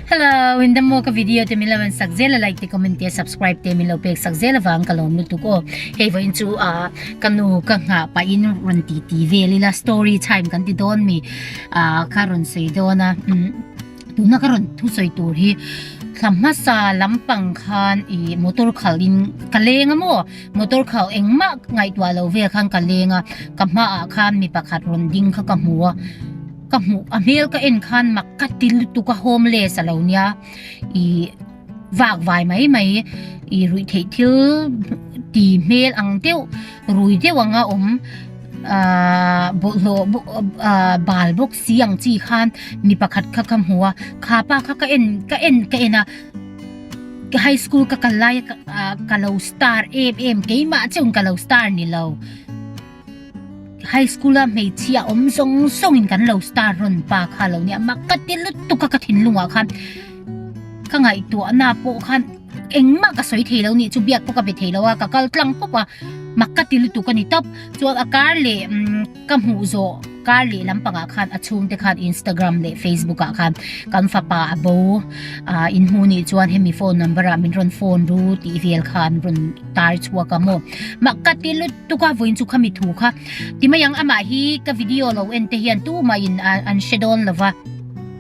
Hello, in the moka video te min lo an sak zela like te comment te subscribe te min lo pek sak zela vang ka lom lutuk o. Hei vain chu a kanu ka nga pa in run ti ti velila story time kan ti don mi a ka run sei dona. Tuna ka run thu sei tur hi thamma sa lampang khan i motor khal in ka lenga mo motor khal engma ngai tua lo ve khan ka lenga ka ma a khan mi pakhat run ding kha ka mu a Ka hmuh a hmel ka en khan mak ka ti lutuk a homeless a lo nia i vak vai mai mai i ruih theih thil ti hmel ang deuh rui deuh anga awm ah bawlhhlawh ah bal bawk si ang chi khan mi pakhat kha ka hmu a kha pa kha ka en ka en ka en a ka high school ka kal laia ah ka lo star em em keimah chun ka lo star ni lo. High school a hmeichhia awm zawng zawng in kan lo star rawn pa kha lo nia mah ka ti lut tuk a ka thinlung ah khan ka ngaihtuah na pawh khan engmah ka sawi thei lo nih chu biak pawh ka be thei lo a ka kal tlang pawp a mah ka ti lutuk a ni tawp chuan a kar leh ka hmuh zawh Kar leh lampangah khan a chhungte khan Instagram leh Facebook-ah khan kan fapa a bo a, in hmu nih chuan hemi phone number-ah min rawn phone ru tih vel khan rawn tar chhuak a maw. Mah ka ti lutuk a, vawiin chu khami thu kha ti mai ang, amah hi ka video lo en te hian tumahin an hre dawn lo va,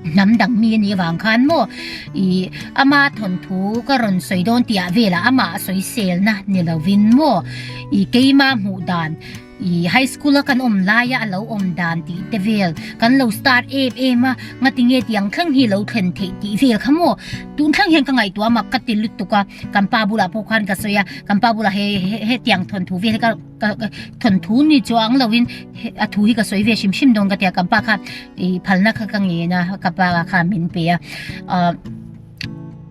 hnam dang mi a nih avang khan maw i ama thawnthu ka rawn sawi dawn tih ah velah amah sawisel na ni lovin maw i keima hmuh dan, I high school a kan awm laia a lo awm dan tih te vel kan lo start em em a, ngati nge ti ang thleng hi lo thlen theih tih vel kha maw? Tun thleng hian ka ngaihtuah a mak ka ti lutuk a, kan pa bulah pawh khan ka sawi a, kan pa bulah he hetiang thawn thu vel hi ka ka thawn thu ni chu ang lo in a thu hi ka sawi ve hrim hrim dawn ka ti a, kan pa kha i phalna kha ka ngen a, ka pa kha min pe a.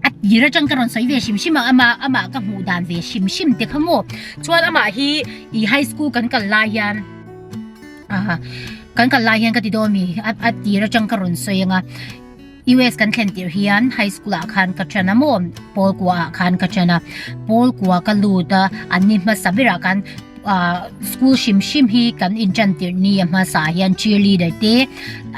A tir atang ka rawn sawi ve hrim hrim a amah amah ka hmuh dan ve hrim hrim te kha maw chuan amah hi ih high school kan kal lai hian ah kan kal lai hian ka ti dawn a mi a tir atang ka rawn sawi anga US kan thlen tirh hian high school ah khan ka ṭhen a maw pawl kua ah khan ka ṭhen a pawl kua ka lut a an ni hmasa ber ah khan ah school hrim hrim hi kan in ṭan tirh ni a hmasa ah hian cheerleader te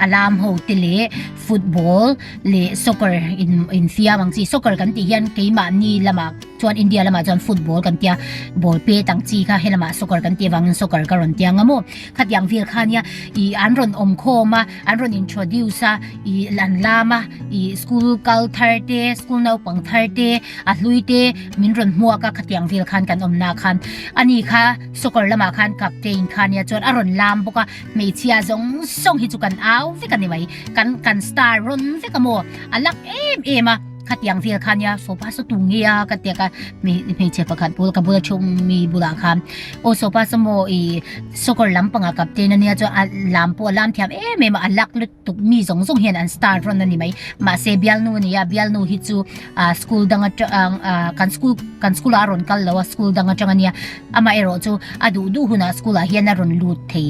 a lam ho te leh football -- leh soccer in infiam ang chi soccer kan tih hian keimahni lamah chuan India lamah chuan football kan tia ball pet ang chi kha helama soccer kan tih avangin soccer ka rawn tia ngam aw khatiang vel khania i an rawn awm khawm a an rawn introduce a i an lam a i school kal thar te school naupang thar te a hlui te min rawn hmuak a khatiang vel khan kan awmna khan ani kha soccer lamah khan captain khania chuan a rawn lam bawk a. hmeichhia zawng zawng hi chu kan au vek a ni mai kan kan star rawn vek a maw a lak em em a khatiang vel khan nia sofa saw tu nge a ka tia ka mi hmeichhe pakhat pawl ka bula chhung mi bulah khan o sofa saw maw i soccer lam panga captain ania chuan a lam pawh a lam thiam em em a a lak lut-- tuk mi zawng zawng hian an star rawn a ni mai mahse bialnu a nia bialnu hi chu ah school dang atang ah kan school kan school ah a rawn kal lo a school dang atang a nia amah erawh chu a duh duh hunah school ah hian a rawn lut thei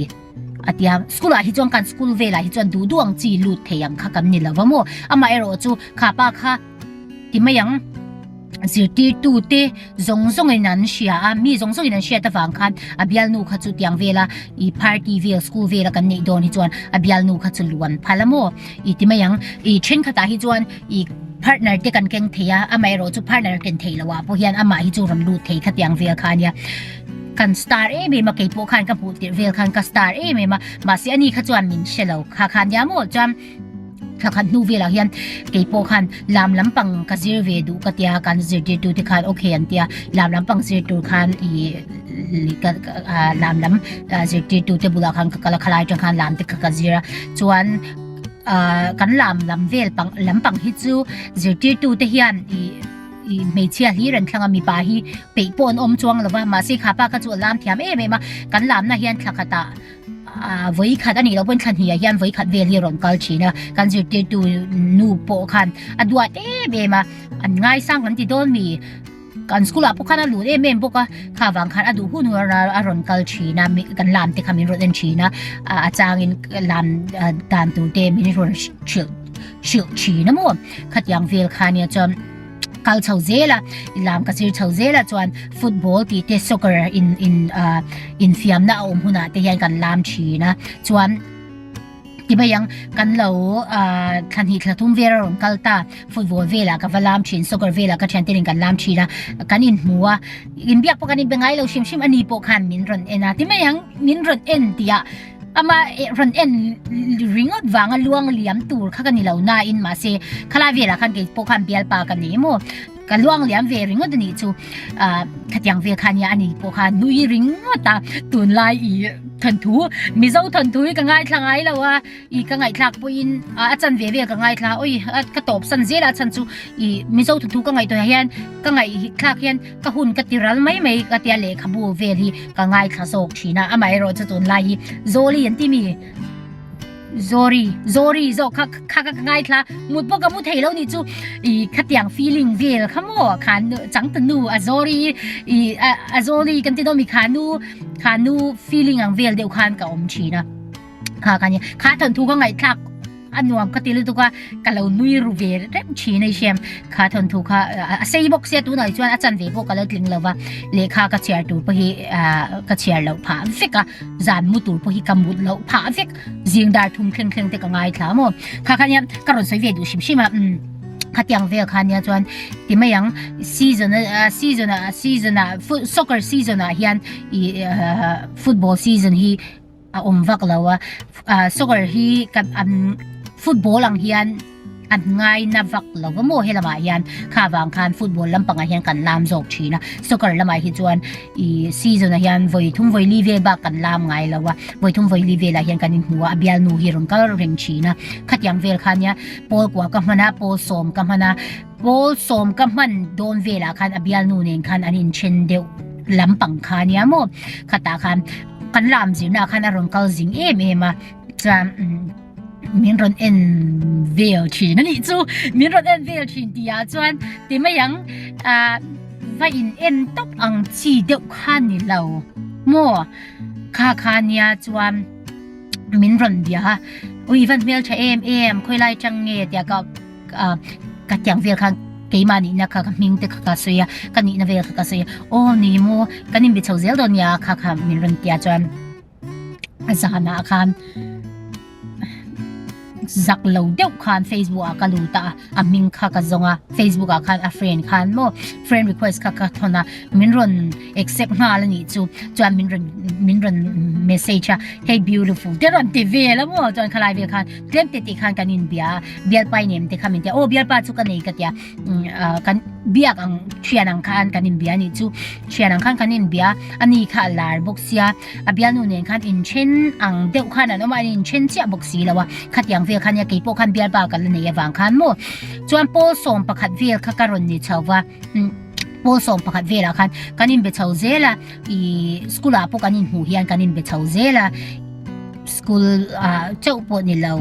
a tia school ah hi chuan kan school velah hi chuan duh duh ang chi lut thei ang kha kan ni lo va maw amaherawhchu khapa kha-- ti mai ang zirtirtute zawng zawng in an hria a mi zawng zawng in an hriat avang khan a bialnu kha chu tiang vela i party vel school vel a kan neih dawn hi chuan a bialnu kha chu luan phal a maw i ti mai ang i thenkhatah hi chuan i partner te kan keng thei a amaherawh chu partner a ken thei lo ah pawh hian amah hi chu rawn lut thei kha tiang vel kha a nia kan star em em a kei pawh khan ka hmuh tirh vel khan ka star em em a mahse ani kha chuan min hre lo kha khan nia maw chuan Thla khat hnu velah hian kei pawh khan lam lampang ka zir ve duh ka tia kan zirtir tu te khan ok an tia lam lampang zir tur khan i ka lam lam zirtir tu te bulah khan ka kala khalai tang khan lam te kha ka zira chuan kan lam lam vel pang lampang hi chu zirtir tu te hian i i hmeichhia hi ran thlanga mipa hi peih pawh an awm chuang lova mahse khapa kha chu a lam thiam em em a kan lamna hian thla khata Ahh vawi khat a nih loh pawhin thla hnihah hian vawi khat vel hi a rawn kal thin a, kan zirtirtu nu pawh khan a duat em em a, an ngaisang kan ti dawn mi, kan school ah pawh khan a lut em em bawk a, kha vang khan a duh hun hun a a rawn kal thin a, kan lam te kha min rawn en thin a, a changin lam dan tur te min rawn hrilh hrilh thin a maw, khatiang vel khania chuan. kal chho zel a i lam ka sir chho zel a chuan football tih te soccer in in ah infiamna a awm hunah te hian kan lam thin a chuan ti mai ang kan lo ah thla hnih thla thum vel a rawn kal ta football velah ka va lam thin soccer velah ka thianten in kan lam thin a kan in hmu a inbiak pawh kan inbe ngai lo hrim hrim ani pawh khan min rawn en a ti mai ang min rawn en tih ah ama ran en ringawt vanga luang liam tur kha ka ni lo na in mah se khala vela khan kei pawh khan bial pa ka ni emaw ka luang liam ve ringawt ani chu a khatiang vel khan nia ani pawh khan nui ringawt a tun lai i thawn thu mizo thawn thu hi ka ngai thla ngai lo a i ka ngai thlak pawh in a chan ve vel ka ngai thla oi ka tawp san zel a chhan chu i mizo thawn thu ka ngaih tunah hian ka ngaih thlak hian Ka hun ka ti ral mai mai ka tia lehkhabu vel hi ka ngaithla zawk thin a amaherawh chu tunlai hi Zoli an timi Zori Zori zawk kha kha ka ngaithla mut pawh ka mu thei lo ni chu i khatiang feeling vel kha mo khan changta nu a Zori i a Zoli kan ti do mi khanu khanu feeling ang vel deuh khan ka awm thin a Kha ka ni kha thawn thu ka ngaih thlak a nuam ka til tuk a ka lo nui ru ve reuh thin a i hriam kha thawn thu kha a sei bawk sia tunah hi chuan a chan ve pawh ka lo tling lo va lehkha ka chhiar tur pawh hi ka chhiar loh phah vek a zan mu tur pawh hi ka mut loh phah vek zing dar thum thleng thleng te ka ngai thla maw kha kha nia ka rawn sawi ve duh hrim hrim a kha tiang vel kha nia chuan ti mai ang season a season a season a soccer season a hian i football season hi a awm vak lo a ah soccer hi ka an football ang hian an ngai na vak lo va maw helama hian kha vang khan football lampang ah hian kan lam zawk thin a soccer lamah hi chuan i season ah hian vawi thum vawi li vel bak kan lam ngai lo a vawi thum vawi li vel ah hian kan in hmu a a bial nu hi rawn kal reng thin a khatiang vel khan nia pawl kua ka hman a pawl sawm ka hman a pawl sawm ka hman dawn vel ah khan a bial nu nen khan an in then deuh lampang khan nia maw khata khan Kan lam zirna khan a rawn kal zing em em a chuan min rawn en vel thin a nih chu min rawn en vel thin ti ah chuan ti mai ang ah va in en tawp ang chi deuh khan ni lo maw kha kha nia chuan min rawn bia a ui va hmel tha em em khawilai chang nge tia ka Ahh ka tiang vel khan keimah nihna kha ka hming te kha ka sawi a, ka nihna vel kha ka sawi a, aw ni maw kan inbe chho zel dawn nia kha kha min rawn ti a chuan a zanah khan zak lo deuh khan Facebook ah ka lut a a hming kha ka zawng a Facebook ah khan a friend khan maw friend request kha ka thawn a min rawn accept nghal a nih chu chuan min rawn min rawn message a hey beautiful te rawn ti vel a maw chuan khalai vel khan Tlêmte tih khân kan inbia a, bialpai nem te kha min tia, aw bialpa chu ka nei ka tia, kan biak ang ṭhian ang khân kan inbia anih chu, ṭhian ang khân kan inbia a, ani kha a lâr bawk sia, a bialnu nen khân inthen ang deuh khân an awm a, an inthen chiah bawk si lo a, khatiang vel khân nia kei pawh khân bialpa ka la nei avang khân maw, chuan pâwl sawm pakhat vel kha ka rawn ni chho va, pâwl sawm pakhat vêlah khân kan inbe chho zêl a, I school ah pawh kan in hmuh hian kan in be chho zel a, school ah chauh pawh ni lo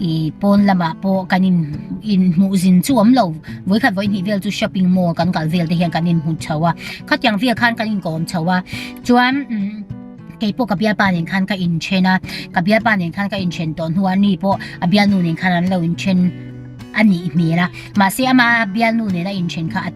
i pawn lam ah pawh kan in in hmuh zin chu awm lo. Vawi khat vawi hnih vel chu shopping mall kan kal vel te hian kan in hmu chho a, khatiang vel khan kan in kawm chho a, chuan kei pawh ka bialpa nen khan ka in then a, ka bialpa nen khan ka in then tawh hnu ah ni pawh a bialnu nen khan an lo in then a nih hmel a, mahse ama bialnu nen a in then kha a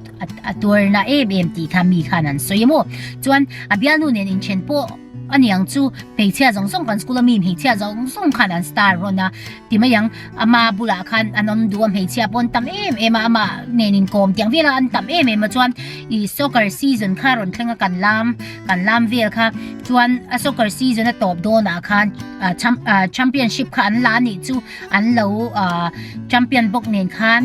A tuarna em em tih kha mi khan an sawi a maw. Chuan a bialnu nen inthen pawh a niang chu hmeichhia zawng zawng kan school a mi hmeichhia zawng zawng khan an star rawn a ti mai ang. Ama bulah khan an awm duh a hmeichhia pawh an tam em em a ama nen inkawm tiang vela an tam em em a chuan i soccer season kha rawn thleng a kan lam kan lam vel kha chuan a soccer season a tawp dawnah khan championship kha an la anih chu an lo champion bawk nen khan.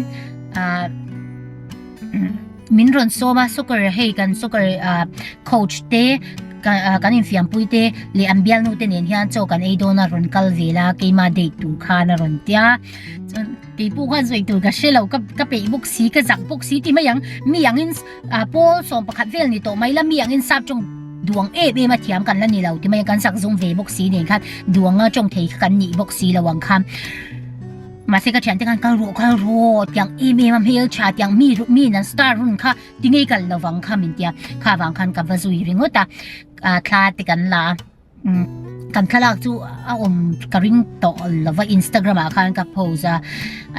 min rawn sawm a soccer hei kan soccer ah coach te kan infiampui te leh an bialnu te nen hian chaw kan ei dawn a rawn kal vel a keima date tur khan a rawn tia chuan keipu khan sawi tur ka hrelo ka ka peih bawk si ka zak bawk si ti mai ang mi ang in ah pawl sawm pakhat vel ni tawh mai la mi ang in sap tawng duang em em a thiam kan la ni lo ti mai ang kan zak zawng ve bawk si nen khan duang a tawng thei kha kan nih bawk si lo ang kha Mahse ka thiante khan ka rawh ka rawh tiang em em a hmel tha tiang mi ru mi nan star hun kha ti ngei kal lo vang kha min tia kha vang khan ka va zui ringawt a a thla te kan la kan thlalak chu a awm ka ring tawh lo va instagram ah khan ka post a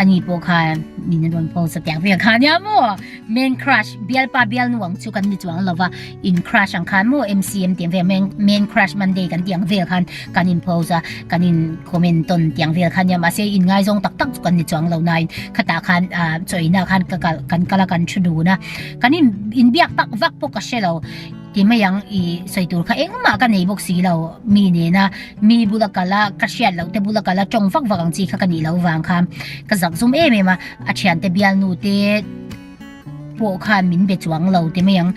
ani pawh khan min rawn post a tiang vel khan nia maw Main crush bialpa bialnu ang chu kan ni chuang lo va in crush ang khan maw MCM tih ang vel main main crush Monday kan tih ang vel khan kan in post a kan in comment tawn tih ang vel khan nia mahse in ngaizawng tak tak chu kan ni chuang lo nain khatah khan chawihna khan ka kal kan kal a kan thu dun a kan in in biak tak vak pawh ka hre lo Ti mai ang i sawi tur kha engmah ka nei bawk si lo mi nena mi bula kal a ka hriat loh te bula kal a tawng vak vak ang chi kha ka nih lo vang kha ka zak zum em em a a thian te bial nu te pawh khan min be chuang lo ti mai ang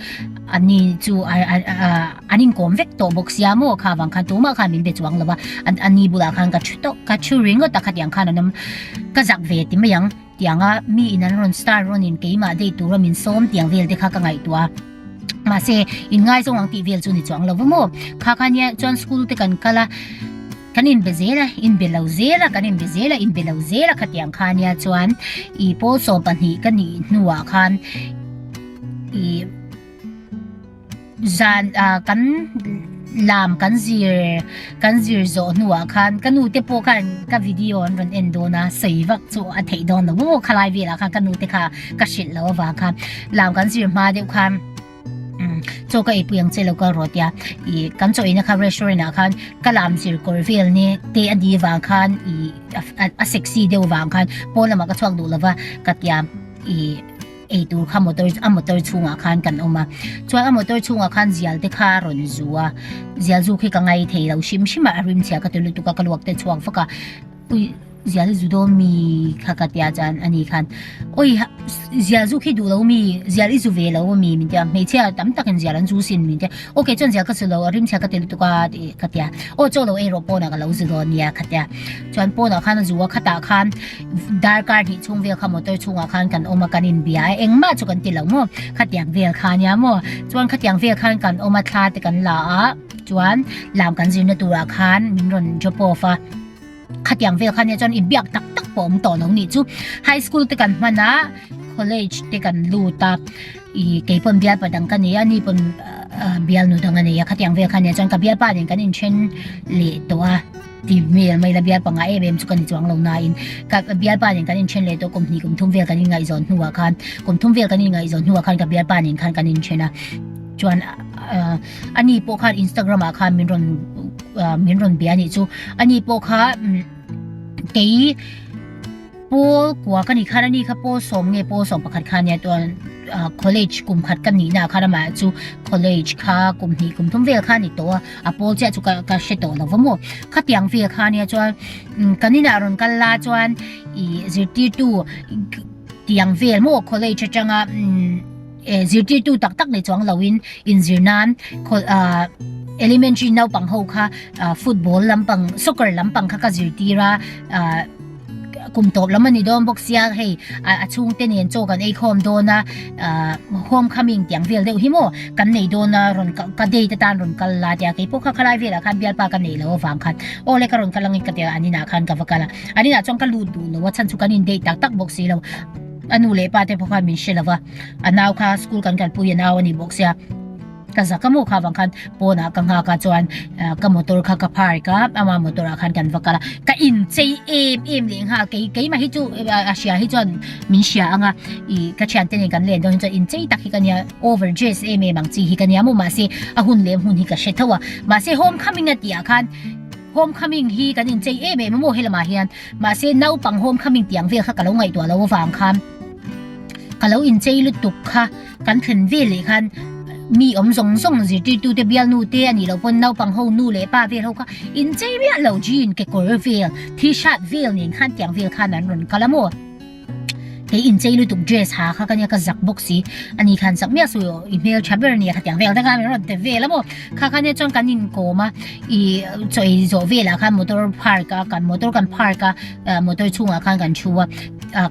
ani chu an inkawm vek tawh bawk sia maw kha vang khan tumah khan min be chuang lo a ani bula khan ka thu tawh ka thu ringawt a khatiang khan an awm ka zak ve ti mai ang. Tiang a, mi in an rawn star rawn in keimah date tur a min sawm tiang vel te kha ka ngaihtuah a, mahse in ngai zawng ang tih vel chu ni chuang lo va maw? Kha kha nia chuan school te kan kal a, kan in be zel a, in be lo zel a, kan in be zel a, in be lo zel a kha tiang kha nia chuan i pawl sawm pahnih ka nih hnuah khan i, Zan ah kan lam kan zir kan zir zawh hnu ah khan ka nu te pawh khan ka video an rawn en dawn a sawi vak chu a theih dawn lo maw khalai velah khan ka nu te kha ka hrilh lo avang kha lam kan zir hma deuh khan chaw ka eipui ang che lo ka ro tia i kan chaw ina kha restaurant ah khan ka lam zir kawr vel ni te a di vang khan i a sexy deuh vang khan pawn lamah ka chhuak duh lova ka tia i ei tur kha motor a motor chhungah khan kan awm a chuan a motor chhungah khan zial te kha a rawn zu a zial zuk hi ka ngai thei lo hrim hrim a a rim chhiah ka ti lutuk a ka luak te chhuak vak a ui zial hi zu dawn mi kha ka tia chuan ani khan ui zial zuk hi duh lo mi zial i zu ve lo a mi min tia hmeichhia tam takin zial an zu sin min tia ok chuan zial ka zu lo a rim chhiah ka ti lutuk a ti ka tia aw chaw lo erawh pawnah ka lo zu dawn nia ka tia chuan pawnah khan a zu a khatah khan Darkar hnih chhung vel kha motor chhungah khan kan awm a, kan inbia a, engmah chu kan ti lo maw? Khatiang vel kha nia maw? Chuan khatiang vel khan kan awm a, thla te kan la a, chuan lam kan zirna turah khan min rawn drop off a. Khatiang vel kha nia chuan in biak tak tak pawh awm tawh lo nih chu. High school te kan hman a, college te kan lut a, ih kei pawn bialpa dang ka nei a, ni pawn bialnu dang a nei a, khatiang vel kha nia chuan ka bialpa nen kan inthen leh tawh a. Tih hmel a maila bialpa ngai em em chu ka ni chuang lo nain ka bialpa nen kan inthen leh tawh kum hnih kum thum vel kan ingaihzawn hnuah khan kum thum vel kan ingaihzawn hnuah khan ka bialpa nen khan kan inthen a chuan ani pawh khan Instagram ah khan min rawn min rawn bia nih chu ani pawh kha kei Pawl kua ka nih khan ani kha pawl sawm nge pawl sawm pakhat kha ania tuan college kum khat ka nihna khan amah ah chu college kha kum hnih kum thum vel kha ani tawh a a pawl chiah chu ka ka hre tawh lo va maw khatiang vel kha ania chuan kan inah rawn kal la chuan i zirtirtu tiang vel maw college atanga e zirtirtu tak tak nei chuang loin inzir nan elementary naupang ho kha football lampang soccer lampang kha ka zirtira kum tawp lam a ni dawn bawk sia hei a chhung te nen chaw kan ei khawm dawn a home coming tiang vel deuh hi maw kan nei dawn a rawn kal ka date atan rawn kal la tia kei pawh kha khalai velah khan bialpa ka nei lo avang khan aw le ka rawn kal angin ka tia an inah khan ka va kal a an inah chuan ka lut duh lo a chhan chu kan in date tak tak bawk si lo a nu leh pa te pawh khan min hre lo va a nau kha school kan kalpui a nau a ni bawk sia Ka za ka mu kha vang khan pawn ah ka nghak a chuan ka motor kha ka park a ama motor ah khan kan va kal a ka in chei em em leh nghal kei kei mah hi chu a hria hi chuan min hria ang a i ka thian te nen kan len dawn hi chuan in chei tak hi ka nia over dress em em ang chi hi ka nia maw mah se a hun leh hmun hi ka hre tho a mah se home coming a tih ah khan home coming hi kan in chei em em maw helamah hian mah se naupang home coming tih ang vel kha ka lo ngaihtuah lo avang khan ka lo in chei lutuk kha Kan thlen vel leh khan mi awm zawng zawng zirtirtu te bial nu te a nih loh pawn naupang ho nu leh pa vel ho kha in chei miah lo jean kekawr vel t shirt vel nen khan tiang vel khan an rawn kal a maw kei in chei lutuk dress ha kha ka nia ka zak bawk si ani khan sak miah sawi i hmel tha ber nia kha tiang vel te khan an rawn ti vel a maw kha khan e chuan kan in kawm a i chawi zawh velah khan motor park a kan motor kan park a motor chhungah khan kan thu a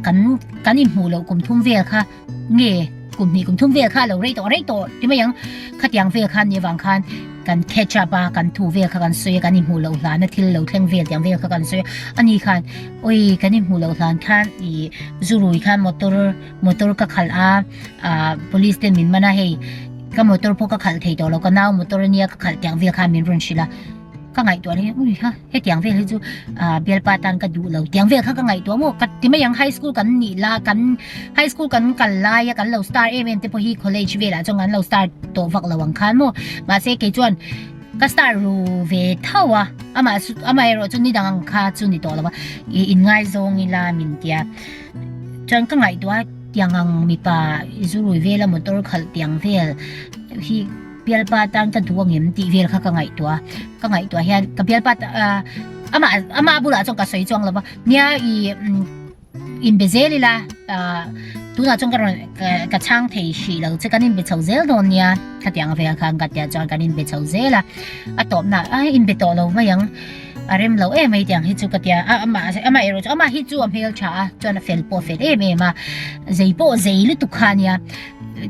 kan kan in hmuh loh kum thum vel kha Nge kum hnih kum thum vel kha lo rei tawh rei tawh ti mai ang khatiang vel khan ni vang khan kan catch up a kan thu vel kha kan sawi a kan i hmuh loh hlan a thil lo thleng vel tiang vel kha kan sawi a ani khan oi kan i hmuh loh hlan khan i zurui khan motor motor ka khalh a police ten min man a hei ka motor pawh ka khalh thei tawh lo ka nau motor ania ka khalh tiang vel khan min rawn hrilh a Ka ngaihtuah leh hi, ui ha, hetiang vel hi chu bialpa tan ka duh lo, tiang vel khan ka ngaihtuah maw, ka ti mai ang high school kan nih la, kan high school kan kal laia kan lo start em em te pawh hi college velah chuan kan lo start tawh vak lo ang khan maw, mahse kei chuan ka start ru ve tho a, amaherawh chu nidang ang kha chu ni tawh lo va, i in ngaizawng ila min tia, chuan ka ngaihtuah a, tiang ang mipa i zu rui vela motor khalh tiang vel hi, Bialpa tan ka duh angem tih vel kha ka ngaihtuah a, ka ngaihtuah hian ka bialpa amah amah bulah chuan ka sawi chuang lova nia i inbe zel ila tunah chuan ka rawn ka chhang thei hrih lo che kan inbe chho zel dawn nia khatianga vel kha an katia chuan kan inbe chho zel a a tawpna a inbe tawh lo mai ang a rem lo em mai tiang hi chu ka tia amah amah erawh chu amah hi chu a hmel tha a chuan a fel pawh a fel em em a zei pawh zei lutuk kha nia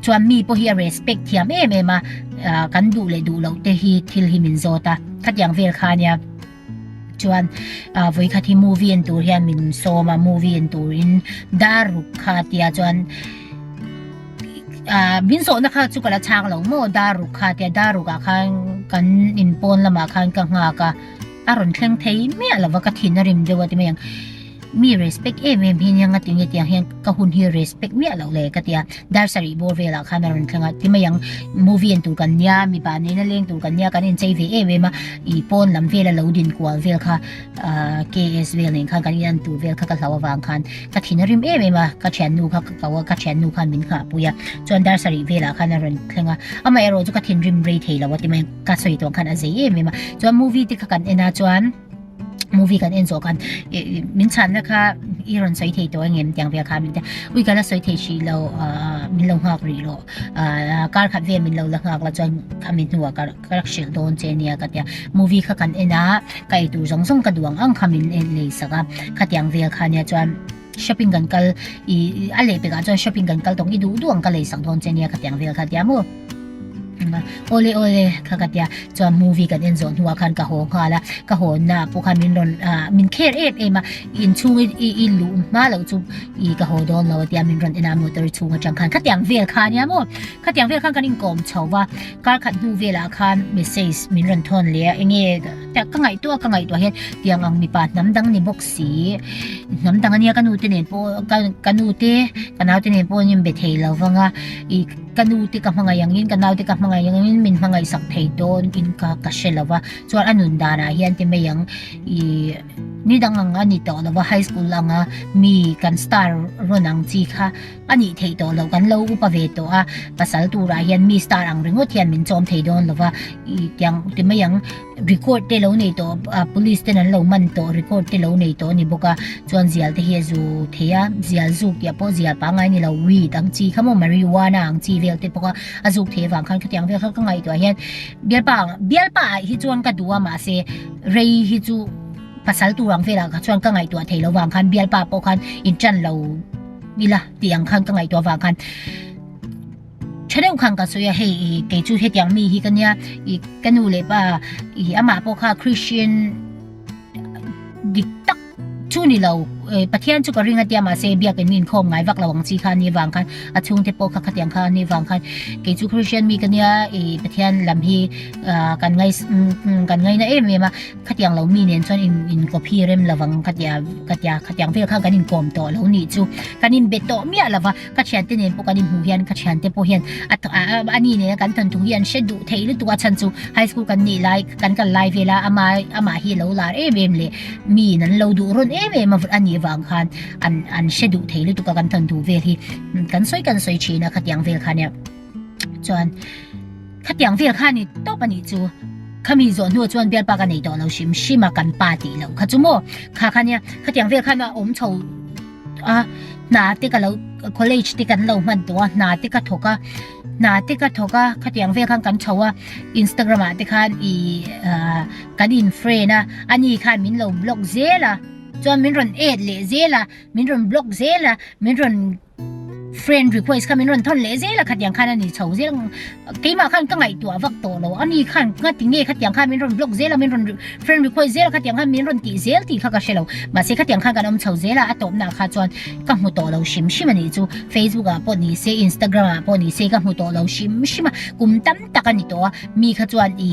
Chuan mi pawh hi a respect thiam em em a, kan duh leh duh loh te hi thil hi min zawt a, khatiang vel kha nia chuan vawikhat hi movie en tur hian min sawm a, movie en turin dar ruk kha tia chuan min zawhna kha chu ka la chhak lo maw dar ruk kha tia, dar ruk ah khan kan in pawn lamah khan ka nghak a, a rawn thleng thei miah lova ka thinna rim deuh a ti mai ang. mi respect em em hi nia nga tinge tih ang hian ka hun hi respect miah loh le ka ti a dar sarih bawr velah khan a rawn thleng a ti mai ang movie en tur kan nia mipa neina leng tur kan nia kan en chei ve em em a i pawn lam vel a lo din kual vel kha KS vel nen khan kan in an tur vel kha ka hlau avang khan ka thin a rim em em a ka thiannu kha ka kau a ka thiannu khan min nghah pui a chuan dar sarih velah khan a rawn thleng a amah erawh chu ka thin rim rei thei lo a ti mai ang ka sawi tawng khan a zei em em a chuan movie te kha kan en a chuan movie kan en zawh khan min chhanna kha i rawn sawi thei tawh angem tiang vek kha min tia ui kala sawi thei hrih lo min lo nghak rih lo kar khat ve min lo la nghak la chuan khami hnua ka ka rak hrilh dawn che nia ka tia movie kha kan en a kai tur zawng zawng ka duang ang kha min en lei sak a khatiang vel khania chuan Shopping kan kal i a leh pekah chuan shopping kan kal tawng i duh duh ang ka lei sak dawn che nia ka tiang vel kha a tia maw awle awle kha ka tia chuan movie kan en zawh hnuah khan ka haw nghal a ka hawnna pawh khan min rawn min kher em em a inchhung i luh hma loh chu i ka haw dawn lo a tia min rawn en a motor i chhung atang khan khatiang vel kha a nia maw khatiang vel khan kan inkawm chho va kar khat hnu velah khan message min rawn thawn leh a enge ka ngaihtuah ka ngaihtuah hian tiang ang mipa hnam dang ni bawk si. si hnam dang ania ka nu te nen pawh ka nu te ka nau te nen pawh in be thei lo vang a i ka nu te ka hmangaih ang in ka nau te ka hmangaih ang in min hmangaih sak thei dawn in kha ka hre lo va chuan a nun dan ah hian ti mai ang ih ni dang ang a ni tawh lo va high school anga mi kan star rawn ang chi kha A nih theih tawh loh kan lo upa ve tawh a, pasal turah hian mi star ang ringawt hian min chawm thei dawn lova, ih tiang ti mai ang, record te lo nei tawh a police ten an lo man tawh record te lo nei tawh a ni bawk a, chuan zial te hi a zu thei a, zial zuk tih a pawh zial pangai a ni lo, weed ang chi kha maw marijuana ang chi vel te pawh kha a zuk thei avang khan khatiang vel kha ka ngaih tawh ah hian Bialpa ang, Bialpa ah hi chuan ka duh a mahse rei hi chu pasal tur ang velah kha chuan ka ngaihtuah thei lo vang khan Bialpa pawh khan in tan lo. ila tih ang khan ka ngaihtuah vang khan tha deuh khan ka sawi a hei i kei chu hetiang mi hi ka nia i ka nu leh pa i amah pawh kha Christian dik tak chu ni lo Pathian chu ka ring a tia mah se biakin mi inkhawm ngai vak lo ang chi kha a ni avang khan a chhungte pawh kha khatiang kha a ni avang khan kei chu Christian mi ka nia i Pathian lam hi kan ngai kan ngaina em em a Khatiang lo mi nen chuan in copy rem lo vang ka tia ka tia khatiang vel khan kan in kawm tawh lo nih chu kan in be tawh miah lova ka thiante nen pawh kan in hmuh hian ka thiante pawh hian a ni nena kan tan thung hi an hre duh thei lutuk a chhan chu high school kan nih lai kan kal lai vel a ama ama hi lo lar em em leh mi in an lo duh rawn em em a a nih vang khan an an hre duh thei lutuk a kan tan duh vel hi kan sawi kan sawi thin a khatiang vel khan nia chuan khatiang vel khan ni tawp a nih chu khami zawh hnu chuan bialpa ka nei tawh lo hrim hrim a kan pa tih loh kha chu maw kha khan nia khatiang vel khan a awm chho a hna te ka lo college te kan lo hman tawh a hna te ka thawk a hna te ka thawk a khatiang vel khan kan chho a instagram ah te khan i kan in friend a ani khan min lo block zel a chuan min rawn add leh zel a min rawn block zel a min rawn Friend request kha min rawn thawn leh zel a khatiang khan ani chho zel keimah khan ka ngai tua vak tawh lo ani khan nga ti nge khatiang khan min rawn block zel a min rawn friend request zel a khatiang khan min rawn ti zel ti kha ka hre lo ma se khatiang khan kan awm chho zel a a tawp na kha chuan ka hmu tawh lo shim shim ani chu facebook a pawh ni se instagram a pawh ni se ka hmu tawh lo shim shim a kum tam tak ani tawh a mi kha chuan i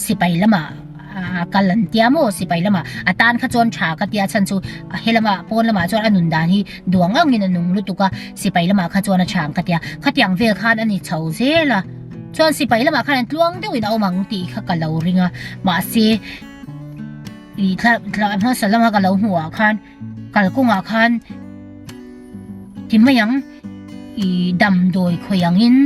sipai lama A kal an tia maw sipai lamah a tan kha chuan tha ka tia a chhan chu he lama pawn lamah chuan a nun dan hi duang ang in a nung lutuk a sipai lamah kha chuan a tha ang ka tia khatiang vel khan a ni chho zel a chuan sipai lamah khan an tluang deuh in a awm ang tih kha ka lo ring a mahse ih thla thla hmasa lama ka lo hmuh ah khan Kalkawngah khan ti mai ang i damdawi khawih angin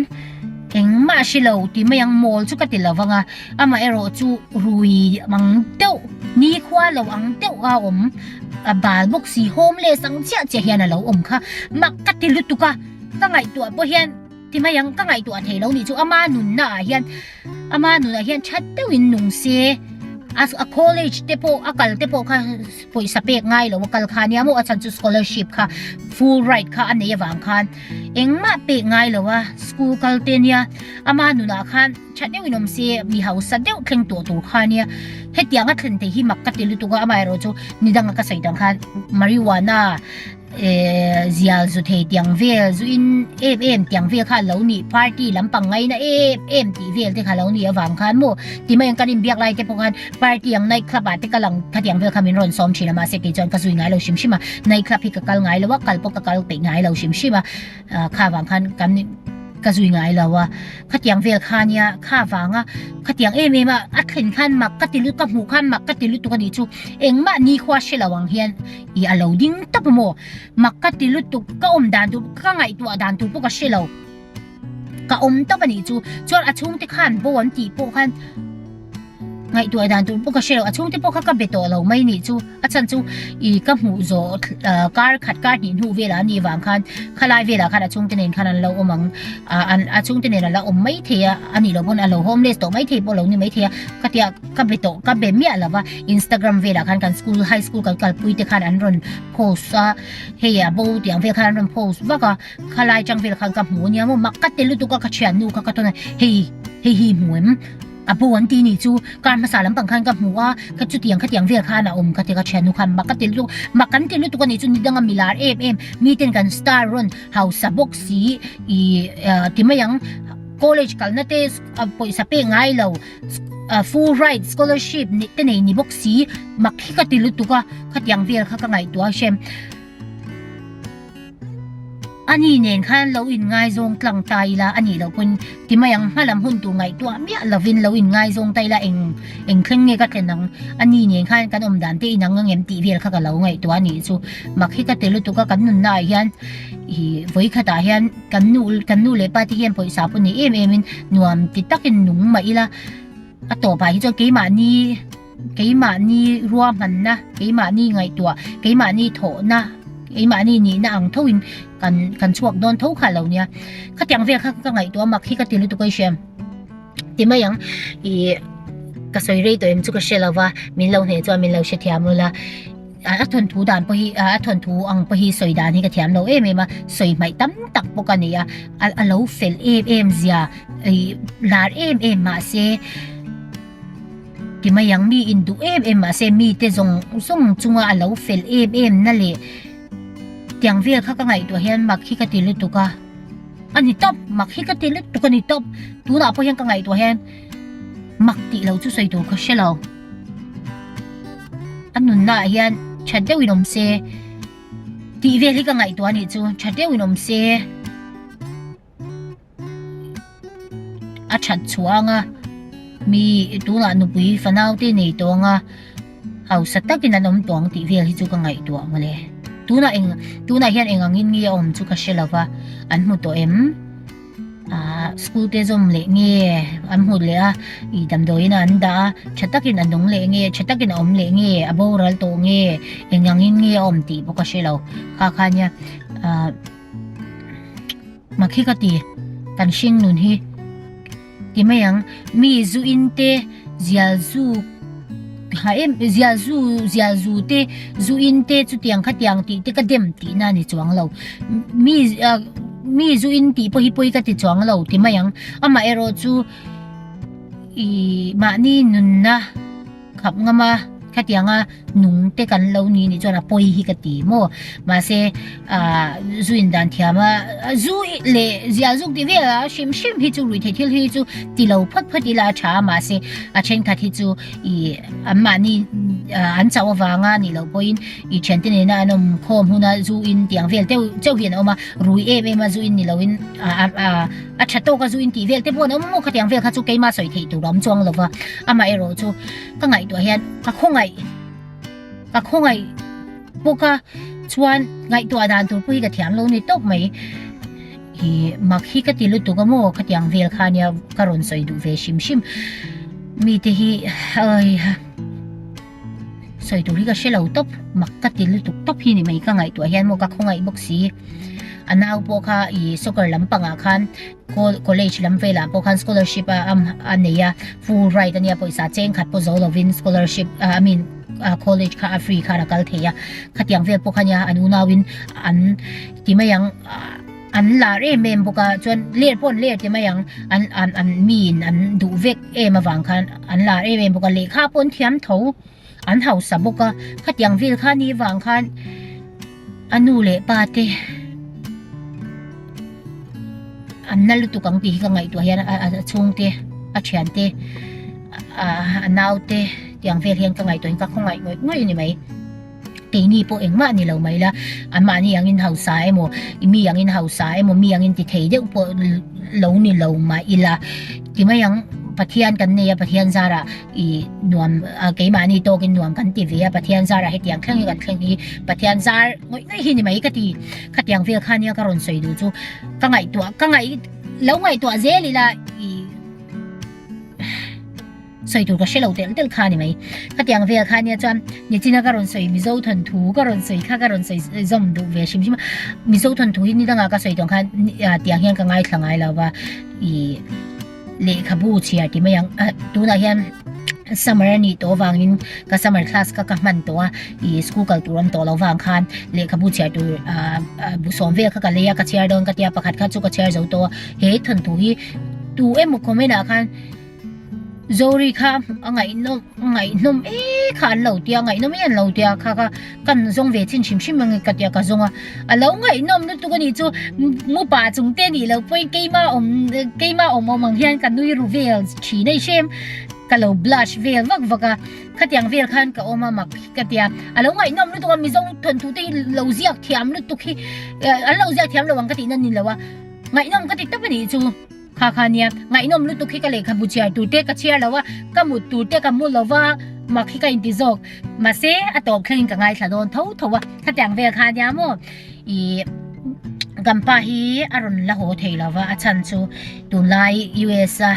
engmah a hri lo ti mai ang mawl chu ka ti lo vang a, amaherawh chu rui ang deuh nikhua lo ang deuh a awm a bal bawk si hawm leh sang chiah chiah hian a lo awm kha mak ka ti lutuk a ka ngaihtuah pawh hian. Ti mai ang ka ngaihtuah theih lo nih chu ama nunna ah hian ama nun ah hian that deuh in nung se a a college te pawh a kal te pawh kha pawisa pek ngai lo a kal kha nia maw a chan chu scholarship kha full right kha a nei avang khan engmah pek ngai lo a school kal te nia ama nun ah khan that deuh in awm se mi hausa deuh thleng tawh tur kha nia hetiang a thlen thei hi mak ka ti lutuk a amah erawh chu midang a ka sawi dan khan marijuana Ehh zial zu thei tiang vel zu in em em tiang vel kha lo nih party lampang ngai na em em tih vel te kha lo nih avang khan maw ti mai ang kan in biak lai te pawh khan party ang night club ah te ka lang kha tiang vel kha min rawn sawm thin a mahse kei chuan ka zui ngai lo hrim hrim a night club hi ka kal ngai lo a kal pawh ka kal peih ngai lo hrim hrim a ahh kha vang khan kan ka zui ngai lo a kha tiang vel kha nia kha vang a kha tiang em em a a thlen khan mak ka ti lut ka hmuh khan mak ka ti lutuk a nih chu engmah nikhua hre lo ang hian I a lo ding tap maw? Mak ka ti lutuk, ka awm dan tur, ka ngaihtuah dan tur pawh ka hre lo. Ka awm tawp a nih chu. Chuan a chhungte khan bo an tih pawh khan ngaihtuah dan tur pawh ka hre lo. A chhungte pawh kha ka be tawh lo mai nih chu. A chhan chu i ka hmuh zawh kar khat kar hnih hnu velah a nih vang khan khalai velah khan a chhungte nen khan an lo awm ang. A chhungte nen a la awm mai thei a, a nih loh pawn a lo homeless tawh mai thei pawh a lo ni mai thei a. Khatiang ka be tawh, ka be miah lo va. Instagram velah khan kan school high school kan kalpui te khan an rawn post a hei a bo tih ang vel khan an rawn post vak a khalai chang vel khan ka hmu ania maw mak ka tel lutuk a ka thian nu kha ka tawn a hei hei hi hmu em a bo an ti ni chu kar hmasa lam pang khan ka hmu a ka chutiang khatiang vel khan a awm ka ti ka thian nu khan mak ka tel lutuk mak kan tel lutuk a ni chu ni danga milar em em mi ten kan star rawn hausa bawk si i ti mai ang college kalna te pawisa pek ngai lo a full right scholarship nih te nei ni bawk si mak hi ka ti lutuk a khatiang vel kha ka ngaihtuah a hriam ani nen khan lo in ngai zawng tlang ta ila ani lo pawn ti mai ang hmalam hun tur ngaihtuah miah lovin lo in ngai zawng ta ila eng eng thleng nge ka thlen ang ani nen khan kan awm dan te in ang angem tih vel kha ka lo ngaihtuah a nih chu mak hi ka ti lutuk a kan nunna ah hian i vawi khatah hian Kan nu, kan nu leh pa te hian pawisa pawh nei em emin nuam ti takin nung mah ila, a tawpah hi chuan keimahni, keimahni ruahmanna, keimahni ngaihtuah, keimahni thawhna, keimahni nihna ang thoin kan kan chhuak dawn tho kha lo nia. Khatiang vel kha ka ngaihtuah a mak hi ka ti lutuk a i hria em? Ti mai ang, ih ka sawi rei tawh em chu ka hre lova, min lo hneh chuan min lo hrethiam ula. A thawn thu dan pawh hi a thawn thu ang pawh hi sawi dan hi ka thiam lo em em a sawi hmaih tam tak bawk a ni a a lo fel em em zia ih lar em em mahse ti mai ang mi induh em em mahse mite zawng zawng chunga a lo fel em em na leh tiang vel kha ka ngaihtuah hian mak hi ka ti lutuk a a ni tawp mak hi ka ti lutuk a ni tawp tunah pawh hian ka ngaihtuah hian mak tih lo chu sawi tur ka hre lo. a nunnaah hian tha deuhin awm se tih vel hi ka ngaihtuah a nih chu tha deuhin awm se a that chhuah anga mi tunah nupui fanaute nei tawnga hausa takin an awm tawng tih vel hi chu ka ngaihtuah mawle tunah eng tunah hian eng angin nge a awm chu ka hre lova an hmu tawh em. Ahh school te zawm leh nge an hmut leh a ih damdawiina an dah a tha takin a nung leh nge tha takin a awm leh nge a boral tawh nge engangin nge a awm tih bawk a hrelo kha kha nia ahh makhi ka ti kan hring nun hi ti mai ang mi zu in te. Zialzuk ha em zialzu zialzu te zu in te chutiang kha tiang ti te ka dem ti na ni chuang lo mi mi zu in ti pawh hi pawi ka ti chuang lo ti mai ang ama erawh chu ih mahni nunna khap ngam a khatianga. Nung te kan lo ni nih chuan a pawi hi ka ti maw. Mahse ah Zu Indan thiama Zu leh Zialzuk tih vel a hrim hrim hi chu rui thei thil hi chu ti lo phawt phawt ila a tha a mahse a thenkhat hi chu i an mahni an chauh avanga nih loh pawhin i thiante nena an awm khawm huna Zu In tiang vel teuh chauh hi an awm a rui em em a Zu In ni loin ah ah a tha tawk a Zu In tih vel te pawh an awm maw khatiang vel kha chu keima sawi theih tur a awm chuang lova amaherawhchu ka ngaihtuah hian ka khawngaih ka khawngaih bawka chuan ngaihtuah dan tur pawh hi ka thiamlo ni tawp mai i mak hi ka ti lutuk amaw ka tiang vel kha nia ka rawn sawi duh ve hrim hrim mite hi ai sawi tur hi ka hrelo tawp mak ka ti lutuk tawp hi ni mai ka ngaihtuah hian maw ka khawngaih bawk si a nau pawh kha i soccer lam pangah khan College lam velah pawh khan scholarship a a nei a full right a nia pawisa cheng khat pawh zo lovin scholarship I mean college kha a free khan a kal thei a khatiang vel pawh khania an unauin an ti mai ang an lar em em bawk a chuan ler pawh an ler ti mai ang an an an miin an duh vek em avang khan an lar em em bawk a lehkha pawh an thiam tho. An hausa bawk a, khatiang vel kha ni vang khan a nu leh pa te an na lutuk ang tih hi ka ngaihtuah hian a chhung te, a thian te, a nau te tiang vel hian ka ngaihtuahin ka khawngaih ngawih ngawih a ni mai. Keini pawh engmah a ni lo mai la, mahni angin hausa emaw, i mi angin hausa emaw, mi angin ti thei deuh pawh lo ni lo mai ila, ti mai ang Pathian kan nei a, Pathian zarah, I nuam keimahni tawkin nuam kan ti ve a, Pathian zarah hetiang thleng hi kan thleng hi Pathian zar ngawih ngawih hi ni mai ka ti. Khatiang vel kha nia ka rawn sawi duh chu ka ngaihtuah ka ngaih lo ngaihtuah zel ila i sawi tur ka hre lo tel tel kha ni mai. Khatiang vel kha nia chuan nichina ka rawn sawi Mizo thawn thu ka rawn sawi kha ka rawn sawi zawm duh ve hrim hrim a. Mizo thawn thu hi nidangah ka sawi dawn khan tiang hian ka ngaithla ngai lo va i Lehkhabu chhiar ti mai ang, a tunah hian summer a nih tawh avangin ka summer class kha ka hman tawh a, ih school kal tur awm tawh lo vang khan lehkhabu chhiar tur ahh sawm vel kha ka lei a ka chhiar dawn ka tia pakhat kha chu ka chhiar zo tawh a, he thawnthu hi tu emaw comment ah khan Zorie kha a ngaihnaw a ngaihnaw mekha an lo tia a ngaihnaw mai an lo tia kha kha. Kan zawng ve chin hrim hrim ange ka tia ka zawnga a lo ngaihnawm lutuk a nih chu mupa chung te nih loh pawhin keima awm keima awm awm ang hian ka nui ru vel thin a i hre em ka lo blush vel vak vak a khatiang vel khan ka awm a mak hi ka tia a lo ngaihnawm lutuk a mi zawng thawnthu te hi lo ziak thiam lutuk hi an lo ziak thiam lo ang ka tihna ni lo a ngaihnawm ka ti tawp a nih chu. Kha kha nia, ngaihnawm lutuk hi ka lehkhabu chhiar tur te ka chhiar lo a, ka mut tur te ka mu lo va, mak hi ka inti zawk. Mahse, a tawp thlengin ka ngaithla dawn tho tho a, khatiang vel kha nia maw ih kan pa hi a rawn la haw thei lo va, a chhan chu tunlai US a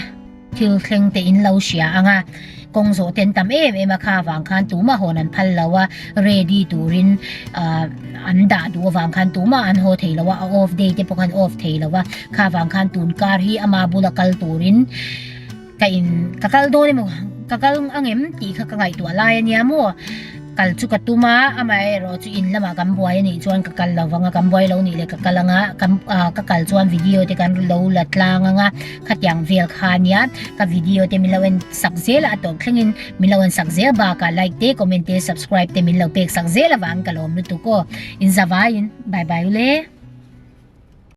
thil thleng te in lo hria ang a. kawng zawhte an tam em em a kha vang khan tumah hawn an phal lo a ready turin an dah duh avang khan tumah an haw thei lo a a off day te pawh khan off thei lo a kha vang khan tun kar hi ama bula kal turin ka in ka kal dawn emaw ka kal ang em tih kha ka ngaihtuah lai a nia maw kal chu ka tum a amaherawh chu in lamah kan buai a nih chuan ka kal lo vang a kan buai lo nih leh ka kal anga ka kal chuan video te kan lo la tlang anga Khatiang vel kha nia ka video te min lo en sak zel a a tawp thleng in min lo en sak zel bak a like te comment te subscribe te min lo pek sak zel avang ka lawm lutuk aw in zavai in bye bye ule.